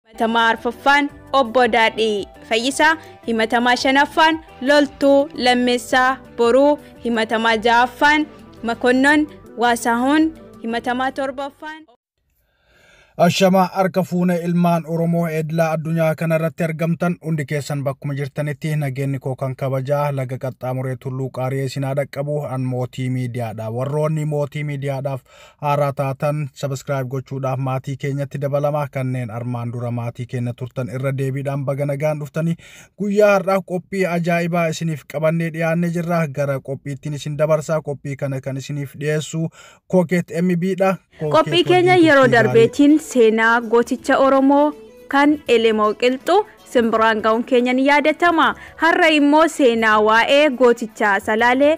himatamaa arfaffaan obbo Daadhii Fayyisaa, himatamaa shanaffaan Loltuu Lammeessaa Boruu, himatamaa ja'affaan Makonnon Waasaahuun, himatamaa torbaffaan. Ashama harka fuune ilmaan Oromoo edlaa addunyaa kanarratti argamtan hundi keessan bakkuma jirtanitti nageenni koo kan kabajaa laga qaxxaamuree tulluu qaariyee isin haa dhaqqabu an mootii miidiyaadha. Warroonni mootii miidiyaadhaaf Haaraa taatan subscribe gochuudhaaf maatii keenyatti dabalama kanneen armaan dura maatii keenya turtan irra deebiidhaan baga nagaan dhuftanii guyyaa har'aa qophii ajaa'ibaa isiniif qabannee dhiyaannee jirra gara qophiittiin isin dabarsaa qophii kana kan isiniif dhiyeessu kookeet MB dha. Qophii keenya yeroo darbeetiin seenaa gooticha Oromoo kan Elemoo Qilxuu simbiraan ga'uun keenya ni yaadatama. Har'a immoo seenaa waa'ee gootichaa Salaalee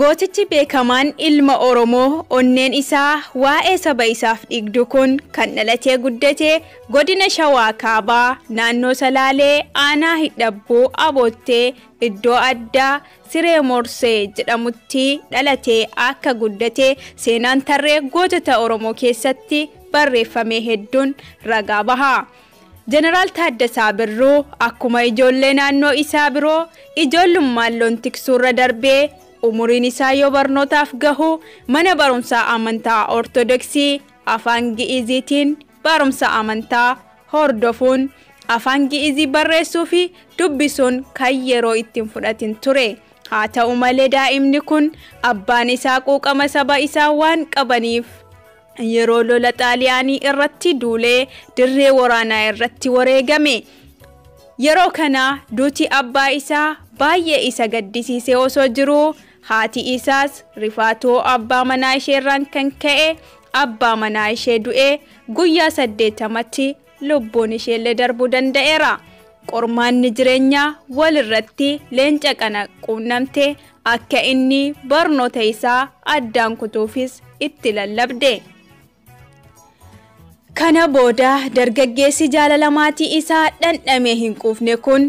Gootichi beekamaan ilma Oromoo onneen isaa waa'ee saba isaaf dhigdu kun kan dhalatee guddate godina Shawaa Kaabaa naannoo Salaalee aanaa Hidhabbuu Aboottee iddoo addaa Siree Moorsee jedhamutti dhalatee akka guddate seenaan tarree gootota Oromoo keessatti barreeffamee hedduun ragaa baha. Jeneraal Taaddasaa Birruu akkuma ijoollee naannoo isaa biroo ijoollummaan loon tiksuurra darbee umuriin isaa yoo barnootaaf gahu mana barumsaa amantaa Ortodoksii afaan Gi'iiziitiin Barumsa amantaa hordofuun Afaan Gi'izii barreessuufi dubbisuun kan yeroo itti hin fudhatin ture. Haa ta'u malee daa'imni kun abbaan isaa quuqama saba isaa waan qabaniif yeroo lola Xaaliyaanii irratti duulee dirree waraanaa irratti wareegame. Yeroo kana duuti abbaa isaa baay'ee isa gaddisiisee osoo jiruu Haati isaas rifaatoo abbaa manaa isheerraan kan ka'e abbaa manaa ishee du'ee guyyaa 80tti lubbuun isheellee darbuu danda'eera. Qormaanni jireenyaa walirratti leenca kana quunnamte akka inni barnoota isaa addaan kutuufis itti lallabde. Kana booda dargaggeessi jaalala maatii isaa dhandhamee hin quufne kun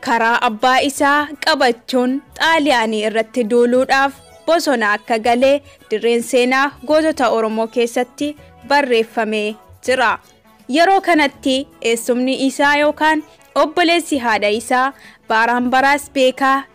karaa abbaa isaa qabachuun xaaliyaanii irratti duuluudhaaf bosona akka gale dirreen seenaa gootota Oromoo keessatti barreeffamee jira. Yeroo kanatti eessumni isaa yookaan obboleessi haadha isaa baaraan baraas beekaa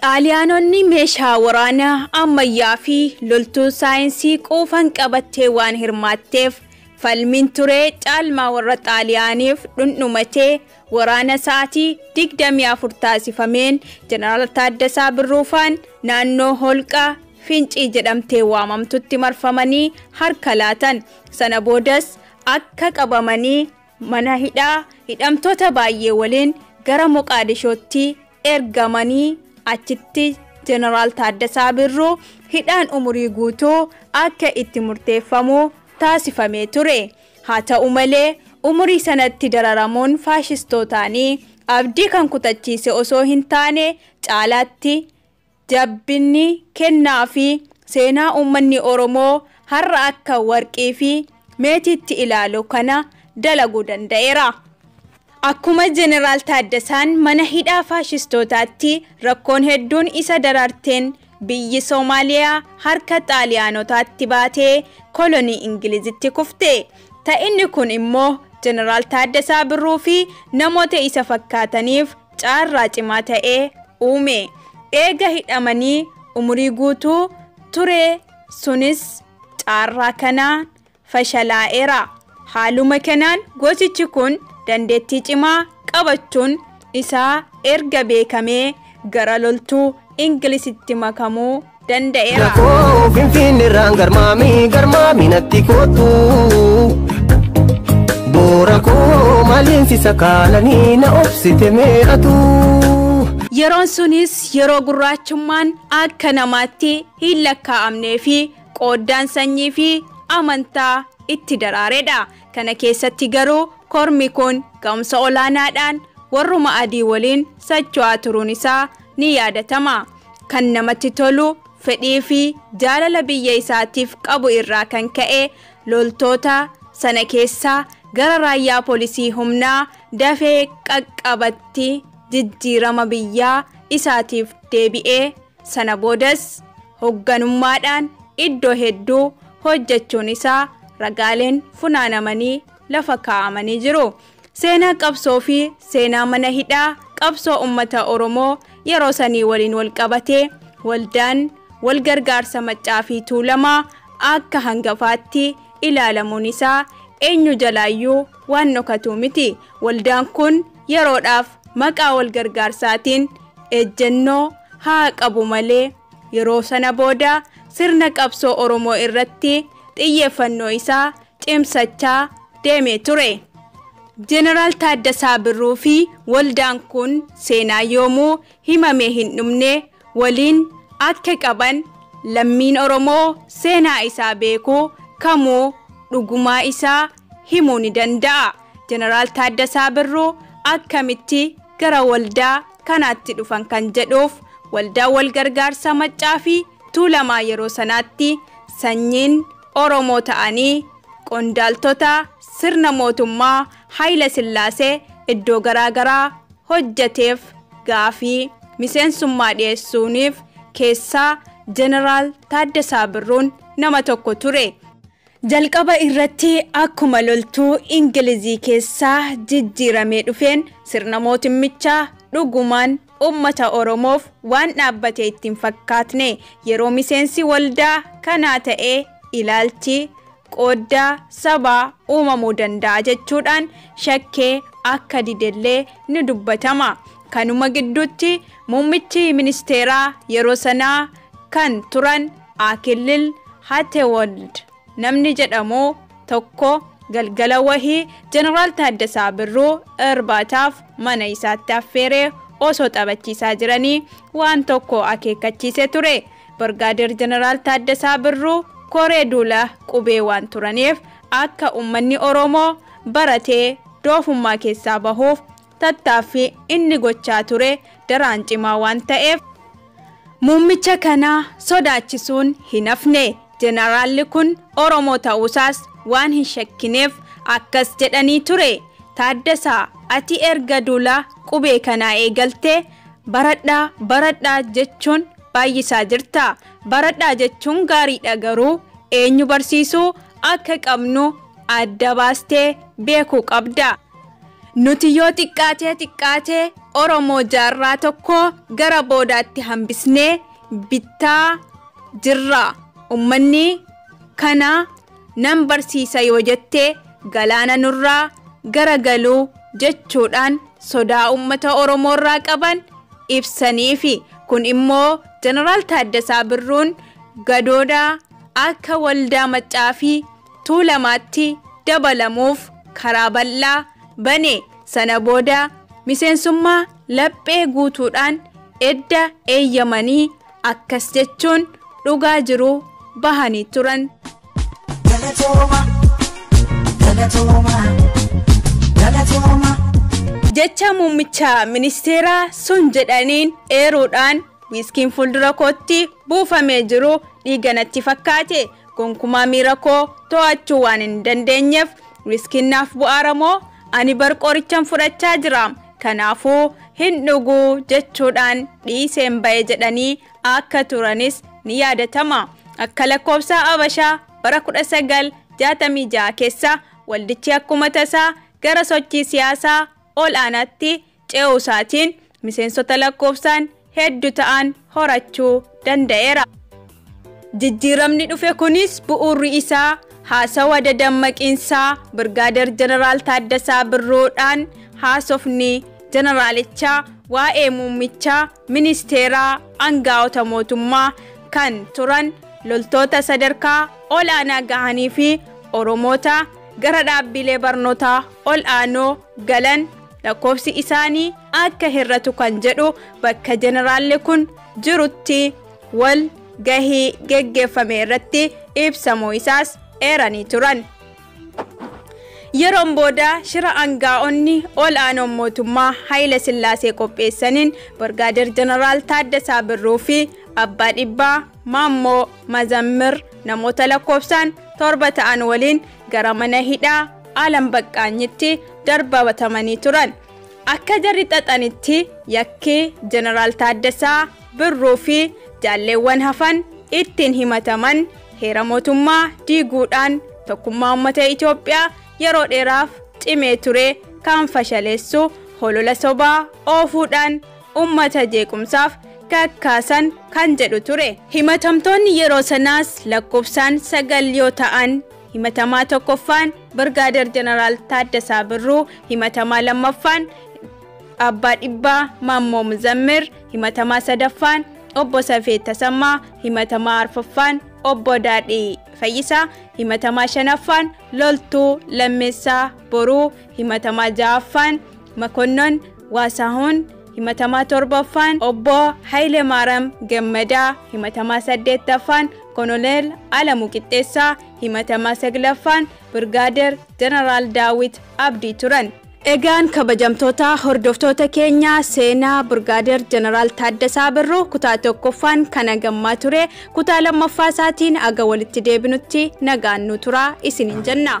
Xaaliyaanonni meeshaa waraanaa ammayyaa fi loltuu saayinsii quufan qabattee waan hirmaatteef, falmiin ture caalmaa warra Xaaliyaaniif dhundhumatee waraana sa'aatii 24 taasifameen Jeneraal Taaddasaa Birruufaan naannoo holqa Fincii jedhamtee waamamtutti marfamanii harka laatan. Sana boodas akka qabamanii mana hidhaa hidhamtoota baay'ee waliin gara Moqaadishootti ergamanii achitti Jeneraal Taaddasaa Birruu hidhaan umurii guutuu akka itti murteeffamu taasifamee ture. Haa ta'u malee umurii sanatti dararamuun faashistootaanii abdii kan kutachiise osoo hin taane caalaatti Jabbinni, kennaa fi seenaa uummanni Oromoo har'a akka warqii fi meetiitti ilaalu kana dalaguu danda'eera. Akkuma Jeneraal Taaddasaan mana hidhaa faashistootaatti rakkoon hedduun isa dararteen biyyi Somaaliyaa harka Xaaliyaanotaatti baatee kolonii Ingilizitti kufte. Ta'inni kun immoo Jeneraal Taaddasaa Birruu fi namoota isa fakkaataniif caarraa cimaa ta'e uume. Eega hidhamanii umurii guutuu ture sunis caarraa kanaan fashalaa'eera. Haaluma kanaan goosichi kun dandeettii cimaa qabachuun isaa erga beekamee gara loltuu Ingilisitti makamuu danda'eera. Koo finfiinni irraan garmaami garmaami natti kootu. Boora koo maaliin si sakaalanii na obsite meeqatu. Yeroon sunis yeroo gurraachummaan akka namaatti hin lakkaa'amnee fi qooddaan sanyii fi amantaa itti daraaredha. Kana keessatti garuu kormi kun ga'umsa olaanaadhaan warruma adii waliin socho'aa turuun isaa ni yaadatama. Kan namatti tolu fedhii fi jaalala biyya isaatiif qabu irraa kan ka'e loltoota sana keessaa gara raayyaa polisii humnaa dafee qaqqabatti jijjiirama biyyaa isaatiif deebi'e. Sana boodas hogganummaadhaan iddoo hedduu hojjechuun isaa ragaaleen funaanamanii lafa kaa'amanii jiru. Seenaa qabsoo fi seenaa mana hidhaa qabsoo ummata Oromoo yeroo sanii waliin wal qabatee waldaan wal gargaarsa Maccaa fi Tuulamaa akka hangafaatti ilaalamuun isaa eenyu jalaayyuu waan dhokatuu miti. Waldaan kun yeroodhaaf maqaa wal gargaarsaatiin ejjennoo haa qabu malee yeroo sana booda sirna qabsoo Oromoo irratti xiyyeeffannoo isaa cimsachaa deemee ture. Jeneraal Taaddasaa Birruu fi waldaan kun seenaa yoomuu himamee hin dhumne waliin akka qaban lammiin Oromoo seenaa isaa beeku kamuu dhugumaa isaa himuu ni danda'a. Jeneraal Taaddasaa Birruu akkamitti gara waldaa kanaatti dhufan kan jedhuuf waldaa walgargaarsa Maccaa fi Tuulamaa yeroo sanaatti sanyiin Oromoo ta'anii qondaaltota sirna mootummaa Hayila Sillaasee iddoo garaa garaa hojjeteef gaafii miseensummaa dhiyeessuuniif keessaa Jeneraal Taaddasaa Birruun nama tokko ture. Jalqaba irratti akkuma loltuu Ingilizii keessaa jijjiiramee dhufeen sirna mootummichaa dhugumaan ummata Oromoof waan dhaabbate itti hin fakkaatne yeroo miseensi waldaa kanaa ta'e ilaalchi qooddaa sabaa uumamuu danda'a jechuudhaan shakkee akka didellee ni dubbatama. Kanuma gidduutti muummichi ministeeraa yeroo sanaa kan turan Akillil Hatewold, Namni jedhamu tokko galgala wahii Jeneraal Taaddasaa Birruu irbaataaf mana isaatti affeeree osoo taphachiisaa jiranii waan tokko akeekkachiisee ture. Birgaadeer Jeneraal Taaddasaa Birruu koree duula qubee waan turaniif akka ummanni Oromoo baratee doofummaa keessaa bahuuf tattaaffii inni gochaa ture daraan cimaa waan ta'eef muummicha kana sodaachisuun hin hafne. Jeneraalli kun Oromoo ta'uusaas waan hin shakkineef akkas jedhanii ture, Taaddasaa, ati erga duula qubee kanaa eegaltee baradhaa, baradhaa jechuun baay'isaa jirta. Baradhaa jechuun gaariidha garuu eenyu barsiisuu akka qabnu adda baastee beekuu qabda. Nuti yoo xiqqaatee xiqqaatee Oromoo jaarraa tokkoo gara boodaatti hambisnee bittaa jirra. Ummanni kana nan barsiisa yoo jette galaana nurraa gara galuu jechuudhaan sodaa ummata Oromoorraa qaban ibsaniifi. Kun immoo Jeneraal Taaddasaa Birruun gadooda akka waldaa maccaa fi Tuulamaatti dabalamuuf karaa bal'aa bane. Sana booda miseensummaa laphee guutuudhaan edda eeyyamanii akkas jechuun dhugaa jiru bahanii turan. Galatooma, galatooma, galatooma. Jecha muummicha ministeeraa sun jedhaniin eeruudhaan wiiskiin fuuldura kootti buufamee jiru dhiiga natti fakkaate. Gonkumaa miira koo to'achuu waan hin dandeenyeef riskiin naaf bu'aara moo ani bar qorichan fudhachaa jira kanaafuu hin dhugu jechuudhaan dhiiseen ba'e jedhanii akka turanis ni yaadatama. Akka lakkoofsa Abashaa bara 1966 keessa waldichi akkuma tasaa gara sochii siyaasaa ol'aanaatti ce'uusaatiin miseensota lakkoofsaan heddu ta'an horachuu danda'eera. Jijjiiramni dhufe kunis bu'uurri isaa haasawa dadammaqiinsaa Birgaader Jeneraal Taaddasaa Birruudhaan haasofni Jeneraalichaa waa'ee muummichaa ministeeraa angaa'ota mootummaa kan turan loltoota sadarkaa ol'aanaa gahaniifi Oromoota gara dhaabbiilee barnootaa ol'aanoo galan lakkoofsi isaanii akka hir'atu kan jedhu bakka jeneraalli kun jirutti wal gahii geggeeffame irratti ibsamuu isaas eeranii turan. Yeroon booda shira angaa'onni ol aanoon mootummaa Hayila Sillaasee qopheessaniin Birgaadeer Jeneraal Taaddasaa Birruu fi Abbaa Dhibbaa Maammoo Mazammir namoota lakkoofsaan torba ta'an waliin gara mana hidhaa Aalam Baqqaanyitti darbabatamanii turan. Akka jarri xaxanitti yakki Jeneraal Taaddasaa Birruu fi jaalleewwan hafan ittiin himataman heera mootummaa diiguudhaan tokkummaa uummata Itoophiyaa yeroo dheeraaf cimee ture kan fashaleessu holola sobaa oofuudhaan ummata jeequmsaaf kakkaasan kan jedhu ture. Himatamtoonni yeroo sanaas lakkofsaan 9 yoo ta'an himatamaa 1ffaan Birgaader Jeneraal Taaddasaa Birruu, himatamaa 2ffaan Abbaa Dhibbaa Maammoo Muzammir, himatamaa 3ffaan Obbo Safee Tasammaa, himatamaa 4ffaan Obbo Daadhii Fayyisaa, himatamaa 5ffaan Loltuu Lammeessaa Boruu, Himatamaa 6ffaan Makonnon Waasaahun, himatamaa 7ffaan Obbo Hayilemaaram Gammadaa, himatamaa 8ffaan Kononeel Alamu Qixxeessaa, himatamaa 9ffaan Birgaader Jeneraal Daawit Abdii turan. Egaan kabajamtoota hordoftoota keenya seenaa Birgaader Jeneraal Taaddasaa Birruu kutaa 1ffaan kan hagammaa ture kutaa 2ffaa isaatiin aga walitti deebinutti nagaan nu turaa isiniin jenna.